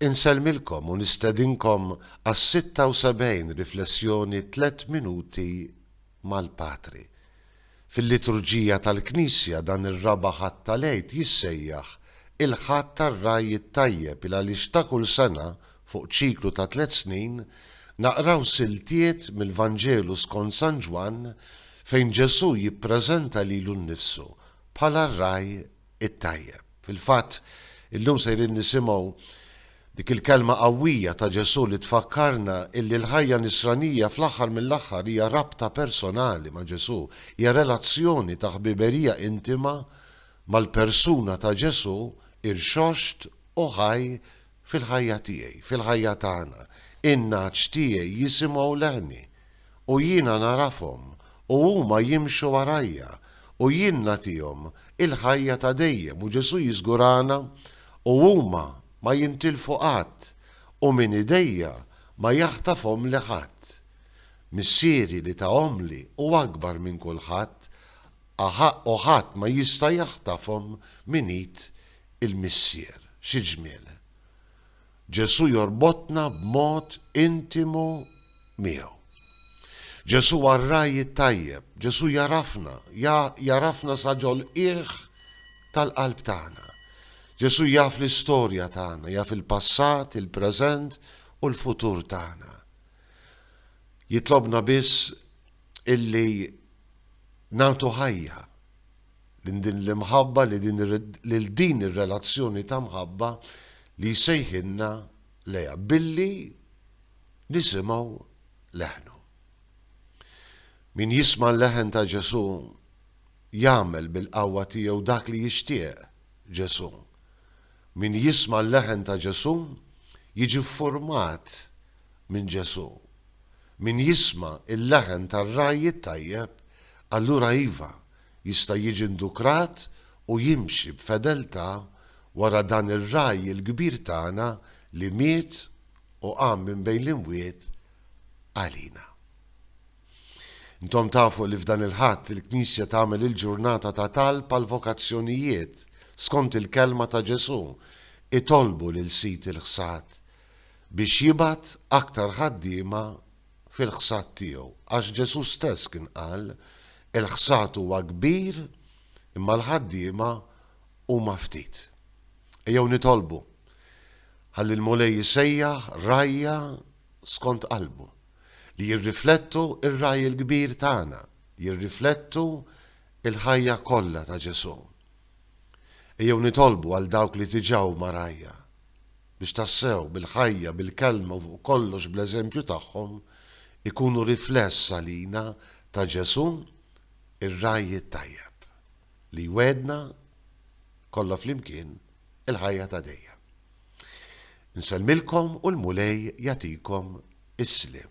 Insellmilkom u nistedinkom għas-76 Riflessjoni Tliet Minuti mal-Patri. Fil-liturġija tal-Knisja dan ir-raba' Ħadd tal-Għid jissejjaħ il-Ħadd tar-Ragħaj it-Tajjeb il għaliex ta' kull sena, fuq ċiklu ta' tliet snin, naqraw siltiet mill-Vanġelu skont San Ġwann fejn Ġesù jippreżenta lilu nnifsu bħala r-Ragħaj it-tajjeb. Fil-fatt, illum sejrin nisimgħu dik il-kelma qawwija ta' Ġesù li tfakkarna illi l-ħajja Nisranija fl-aħħar mill-aħħar hija rabta personali ma' Ġesù, hija relazzjoni ta' ħbiberija intima mal-persuna ta' Ġesù irxoxt u ħaj Fil-ħajja tiegħi, fil-ħajja tagħna, in-nagħaġ tiegħi jisimgħu leħni, u jiena nagħrafhom, u huma jimxu warajja, u jien nagħtihom il-ħajja ta' dejjem, u Ġesù jiżgurana, u huma ma jintilfu qatt, u minn idejja ma jaħtafhomli ħadd. Missieri li tahomli hu akbar minn kulħadd, aħaq u ħadd ma jista' jaħtafhom minn id il-Missier. Xi ġmiel! Ġesù jorbotna b'mod intimu miegħu. Ġesù huwa r-ragħaj it-tajjeb, Ġesù jagħrafna, jagħrafna sa ġol-qiegħ tal-qalb tagħna. Ġesù jaf l-istorja tagħna, jaf il-passat, il-preżent u l-futur tagħna. Jitlobna biss illi nagħtu ħajja minn din l-imħabba lil din ir-relazzjoni ta' mħabba li jsejħilna lejha billi nisimgħu leħnu. Min jisma' l-leħen ta' Ġesù jagħmel bil-qawwa tiegħu dak li jixtieq Ġesù. Min jisma' l-leħen ta' Ġesù jiġi ffurmat minn Ġesù. Min jisma' l-leħen tar-ragħaj it-tajjeb, allura iva, jista' jiġi ndukrat u jimxi b'fedeltà wara dan ir-Ragħaj il-kbir tagħna li miet u qam minn bejn l-imwiet għalina. Intom tafu li f'dan il-Ħadd il-Knisja tagħmel il-ġurnata ta' talb għall-vokazzjonijiet skont il-kelma ta' Ġesù, Itolbu lil Sid il-ħsad biex jibgħat aktar ħaddiema fil-ħsad tiegħu, għax Ġesù stess kien qal, Il-ħsad huwa kbir, imma l-ħaddiema huma ftit. Ejjew nitolbu ħalli l-Mulej jisejjaħ rajja skont qalbu li jirriflettu ir-raj il-kbir tagħna, jirriflettu il-ħajja kollha ta' Ġesù. Ejjew nitolbu għal dawk li diġà huma rgħajja, biex tassew, bil-ħajja, bil-kelma u fuq kollox bl-eżempju tagħhom, ikunu rifless għalina ta' Ġesù, ir-Ragħaj it-Tajjeb, li jwegħedna, kollha flimkien, il-ħajja ta' dejjem. Insellmilkom u l-Mulej jagħtikom is-sliem.